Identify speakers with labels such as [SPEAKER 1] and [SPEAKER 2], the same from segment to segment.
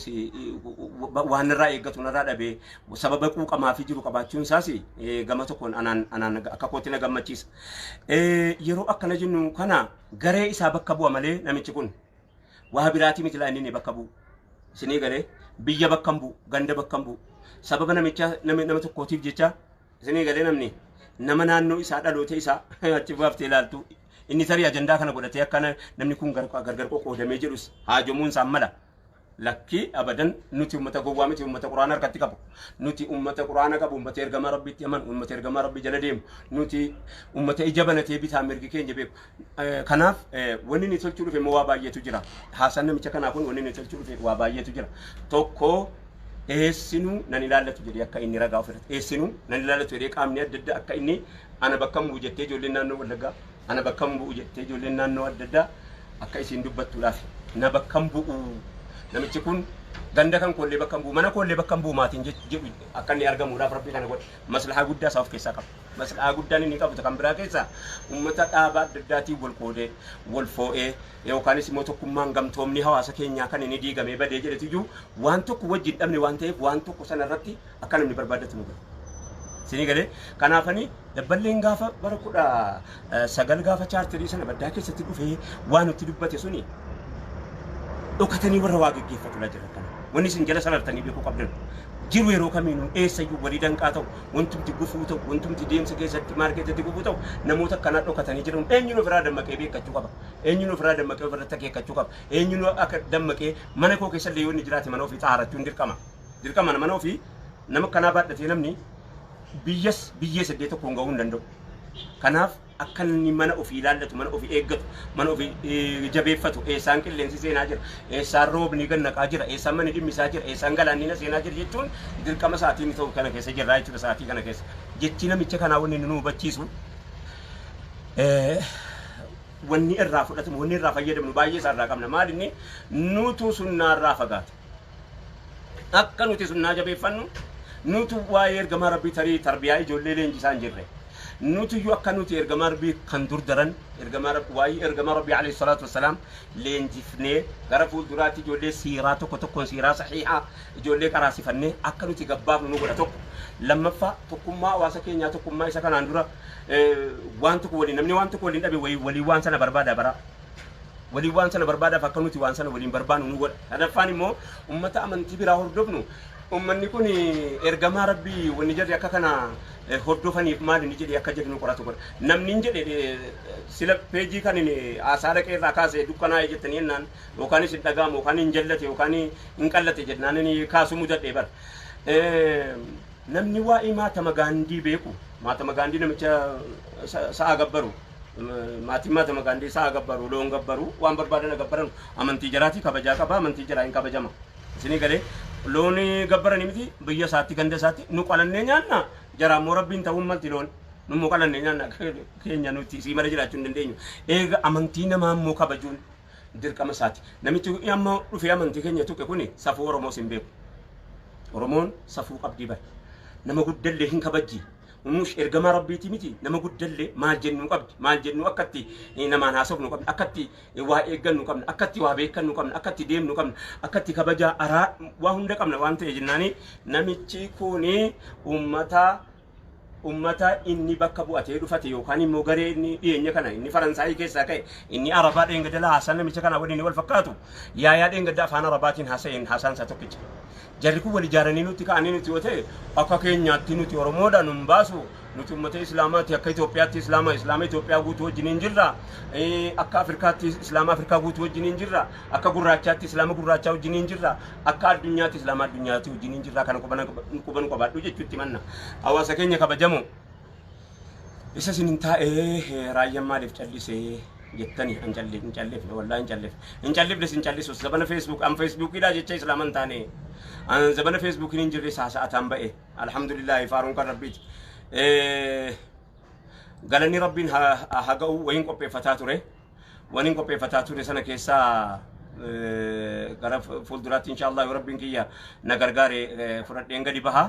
[SPEAKER 1] waan irraa eeggatu narraa dhabee sababa quuqamaa fi jiru qabaachuun isaas gama tokkoon anaan anaan akka kootti na gammachiisa. Yeroo akkana jennu kana garee isaa bakka bu'a malee namichi kun waa biraatii miti laa inni bakka bu'u. Isinii galee biyya bakka hin bu'u, ganda bakka hin bu'u. Sababa namicha nama nama tokkootiif jecha isinii galee namni nama naannoo isaa dhaloota isaa achi baaftee ilaaltu inni tarii ajandaa kana godhatee akka namni kun gargar qoqqoodamee jedhus haajomuun isaan mala. Lakkii abadan nuti ummata gowwaa miti ummata quraana harkatti qabu nuti ummata quraana qabu ummata ergamaa rabbiitti amanu ummata ergamaa rabbii jala deemu nuti ummata ija banatee bitaa mirgi keenya beeku Eh, kanaaf eh, wanni ni tolchuu dhufe immoo waa baay'eetu jira haasaan namicha kanaa kun wanni ni tolchuu dhufe waa baay'eetu jira tokko eessinuu nan ilaallatu jedhee akka inni ragaa ofirratti eessinuu nan ilaallatu jedhee qaamni adda addaa akka inni ana bakka muu jettee ijoolleen naannoo wallaggaa Ana bakkan bu'u jettee ijoolleen naannoo adda addaa akka isiin dubbattuudhaaf na bakkan bu'u namichi kun ganda kan koollee bakkan bu'u mana koollee bakkan bu'u maatiin jedhu akka inni argamuudhaaf rabbii kana godhe maslahaa guddaa isaa of keessaa qaba. Maslahaa guddaan inni qabu kan biraa keessaa uummata dhaabaa adda addaatiin wal qoodee wal foo'ee yookaanis immoo tokkummaan gamtoomni hawaasa keenyaa kan inni diigamee badee jedhetu iyyuu waan tokko wajjin dhabne waan ta'eef waan tokko sana irratti akka namni barbaaddatu nu godha. Isinii galee kanaafanii dabballeen gaafa bara kudha eh, sagal gaafa chaartirii sana baddaa keessatti dhufee waan nutti dubbate suni dhokatanii warra waa geggeeffatu laa jira kana. Wanni isin jala salartanii beekuu qabdan. Jiru yeroo kamiinuu eessayyuu walii danqaa ta'u, wantumti gufuu ta'u, wantumti deemsa keessatti maarkeetatti gufuu ta'u, namoota akkanaa dhokatanii jiran eenyuun ofirraa dammaqee beekkachuu qaba. Eenyuun ofirraa dammaqee ofirratti akeekkachuu qaba. Eenyuun akka dammaqee mana koo keessa illee yoo inni jiraate mana ofii xaarachuun dirqama. Dirqama nama ofi nama akkanaa baadhatee namni biyyas biyyee seddee tokkoon gahuu hin danda'u. Kanaaf akka inni mana ofii ilaallatu, mana ofii eeggatu, mana ofii eh, jabeeffatu, eessaan qilleensi seenaa jira, eessaan roobni gad naqaa jira, eessaan manni dhimmisaa jira, eessaan galaanni na seenaa jira jechuun dirqama sa'aatiin ta'u kana keessa jirraa jechuudha sa'aatii kana keessa. Jechi namicha kanaa wanni inni nu hubachiisu eh, wanni irraa fudhatamu, wanni irraa fayyadamnu baay'ee isaa irraa qabna. Maal inni nuutuu sunnaa irraa fagaate. Akka nuti sunnaa jabeeffannu, nutu waa'ee ergamaa Rabbii tarii tarbiyaa ijoollee leenjisaa hin jirre. Nutuyyu akka nuti ergamaa Rabbii kan dur daran ergamaa Rabbii waa'ee ergamaa Rabbii alayhi salaatu wassalaam leenjifnee gara fuulduraatti ijoollee siiraa tokko tokkoon siiraa sahiihaa ijoollee qaraasifannee akka nuti gabbaafnu nu godha tokko. Lammaffaa tokkummaa hawaasa keenyaa tokkummaa isa kanaan dura eh, waan tokko waliin namni waan tokko waliin dhabe wayii- walii waan sana barbaada bara. waliin waan sana barbaadaaf akka nuti waan sana waliin barbaannu nu godha. Sadaffaan immoo ummata amantii biraa hordofnu ummanni kun ergamaa rabbii wanni jedhe akka kana hordofaniif maali ni jedhe akka jedhe nu qoratu godha. Namni hin jedhe sila peejii kan haasaa dhaqee irraa kaase dukkanaa'e jettanii jennaan yookaanis hin dhaga'amu yookaan hin jallate yookaan hin qallate jennaan inni kaasuu mudadhee bara. Namni waa'ee maatama gaandii beeku maatama gaandii namicha sa'a gabbaru Maatiin maatama gaandeessaa haa gabbaru, loon gabbaru, waan barbaadan haa gabbaranu. Amantii jaraatii kabajaa qaba, amantii jaraa hin kabajama. Isinii galee loon gabbaranii miti biyya isaatti ganda isaatti nu qalannee nyaanna jaraa immoo rabbiin ta'uun malti loon nu immoo qalannee nyaanna keenya nuti isii mala jiraachuu hin dandeenyu. Eega amantii namaa immoo kabajuun dirqama isaati. Namichi amma dhufee amantii keenya tuqe kuni safuu Oromoos hin beeku. Oromoon safuu qabdii bara. Nama guddallee hin kabajji. Umush ergamaa rabbiitii miti nama guddallee maal jennuu qabdi maal jennuu akka itti namaan haasofnu qabna akka itti waa eeggannu qabna akka itti waa beekannu qabna akka itti deemnu qabna akka itti kabajaa araa waa hunda qabna waan ta'e jennaanii namichi kuni ummata ummata inni bakka bu'atee dhufate yookaan immoo garee inni dhiyeenya kana inni faransaayii keessaa ka'e inni arabaa dheengadala haasaan namicha kana waliin wal fakkaatu yaayaa dheengadda afaan arabaatiin haasa'een haasaan isaa tokkicha Jarri kun wal ijaaranii nutti ka'anii nuti yoo ta'e akka keenyaatti nuti Oromoodha nun baasu nuti uummata Islaamaati akka Itoophiyaatti Islaama Islaama Itoophiyaa guutuu wajjiniin jirra akka Afrikaatti Islaama Afrikaa guutuu wajjiniin jirra akka gurraachaatti Islaama gurraachaa wajjiniin jirra akka addunyaatti Islaama addunyaatti wajjiniin jirra kana quba nu qabaadhu jechuutti manna hawaasa keenya kabajamoo. Isa isin hin taa'ee raayyaan maaliif callise jettani an callif hin callifne wallaahi hin callifne hin callifne sin callisus zabana feesbuuk an feesbuukiidha jecha islaama hin taane an zabana feesbuukiin hin jirre saasa'ataan ba'e alhamdulillaahi faaruun kan rabbiiti galanni rabbiin haa ga'u wayiin qopheeffataa ture waniin qopheeffataa ture sana keessaa gara fuulduraatti inshaallah yoo rabbiin kiyya na gargaare fudhadheen gadi bahaa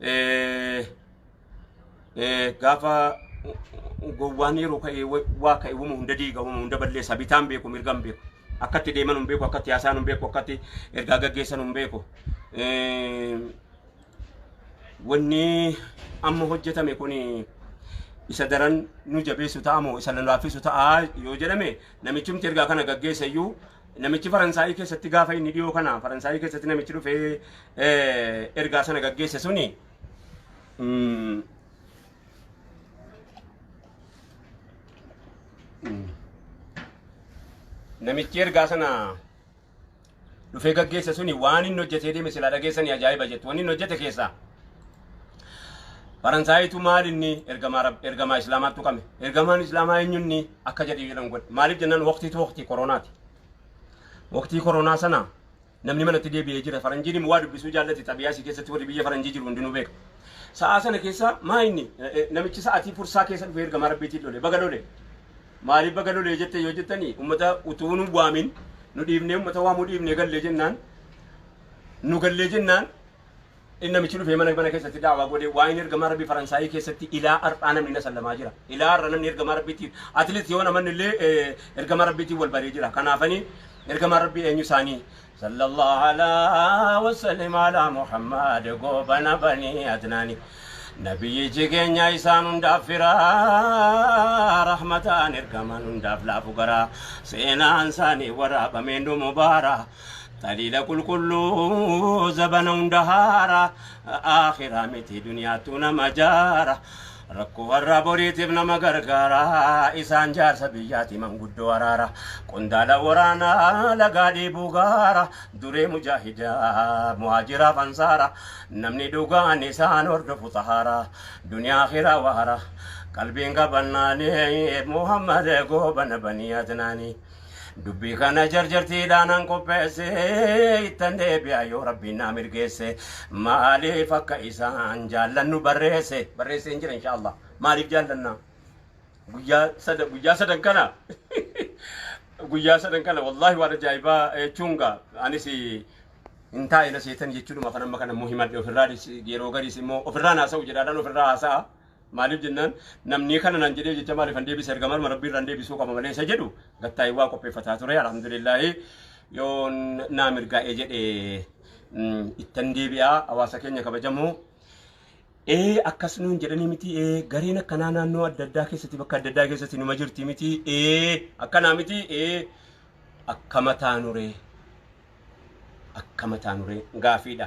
[SPEAKER 1] eh, eh, gaafa gowwaan yeroo ka'e wa- waa ka'e wama hunda diiga wama hunda balleessa bitaan beeku mirgaan beeku akkatti deeman hin beeku akkatti haasaan hin beeku akkatti ergaa gaggeessan hin beeku Eh, wanni amma hojjetame kun isa daran nu jabeessu ta'a moo isa nu laaffisu ta'a yoo jedhame namichumti ergaa kana gaggeessa iyyuu namichi faransaayii keessatti gaafa inni dhiyoo kana faransaayii keessatti namichi dhufee ergaa sana gaggeesse suni namichi ergaa sana dhufee gaggeesse suni waan inni hojjetee deeme silaa dhageessanii ajaa'iba jettu waan inni hojjete keessaa Faransaayitu maal inni ergamaa rab- ergamaa islaamaattu qame ergamaan islaamaa eenyunni akka jedhu jedhan godhe maaliif jennaan waqtiitu waqtii koronaati waqtii koronaa sana Namni manatti deebi'ee jira. Faranjiin immoo waa dubbisuu jaallati. Xabiyaa isii keessatti warri biyya faranjii jiru hundinuu beeka. Sa'aa sana keessa maa inni eh, eh, namichi sa'atii fursaa keessa dhufee ergamaa rabbiitiin lole. Baga lole. Maaliif baga lole jette yoo jettani ummata utuu nu waamin nu dhiibnee ummata waamuu dhiibnee gallee jennaan nu gallee jennaan Inni namichi dhufee mana mana keessatti daawaa godhee waa'een ergamaa rabbii Faransaayii keessatti ilaa har'aa namni na sallamaa jira. Ilaa har'a namni ergamaa rabbiitiin atleet yoo namanni illee eh, ergamaa rabbiitiin wal baree jira. Kanaafanii ergamaa rabbii eenyu isaanii sallallahu alaa wasallim alaa Muhammad goobana banii adnaani. Nabiyyichi keenya isaan hundaaf firaa rahmataan ergamaan hundaaf laafu garaa seenaan isaanii waraabameen dhumu baaraa. Taliila qulqulluu zabana hunda haara Aakhiraa miti duniyaattuu nama jaara Rakkoo har'aa boriitiif nama gargaara Isaan jaarsa biyyaati manguddoo araara Qondaala waraanaa lagaa dheebuu gaara Duree mujaahidaa muhaajiraaf ansaara Namni dhugaan isaan hordofu xahaara Duniyaa aakhiraa waara Qalbiin qabannaani Muhammad goobana banii adnaanii Dubbii kana jarjartiidhaan an qopheesse ittan deebi'a yoo rabbiin naa mirgeesse maaliif akka isaan jaallannu barreesse barreesse hin jira inshaallah maaliif jaallannaa guyyaa sada guyyaa sadan kana guyyaa sadan kana wallaahi waan ajaa'ibaa jechuun gaa anis hin taa'e na seetan jechuudhuma kan amma kana immoo himadhe ofirraa yeroo gariis immoo ofirraa naasa'u jedhaadhaan ofirraa haasa'a. Maaliif jennaan namnii kana nan jedhee jecha maalifan deebisa ergamarma rabbii irraan deebisuu qaba malee isa jedhu gattaa'ee waa qopheeffataa ture alhamdulillaahi yoo naa mirgaa'ee jedhe ittan deebi'aa hawaasa keenya kabajamu ee akkas nuun jedhanii miti ee gareen akkanaa naannoo adda addaa keessatti bakka adda addaa keessatti numa jirti miti ee akkanaa miti ee akkama taanuree akkama taanuree gaafiidha.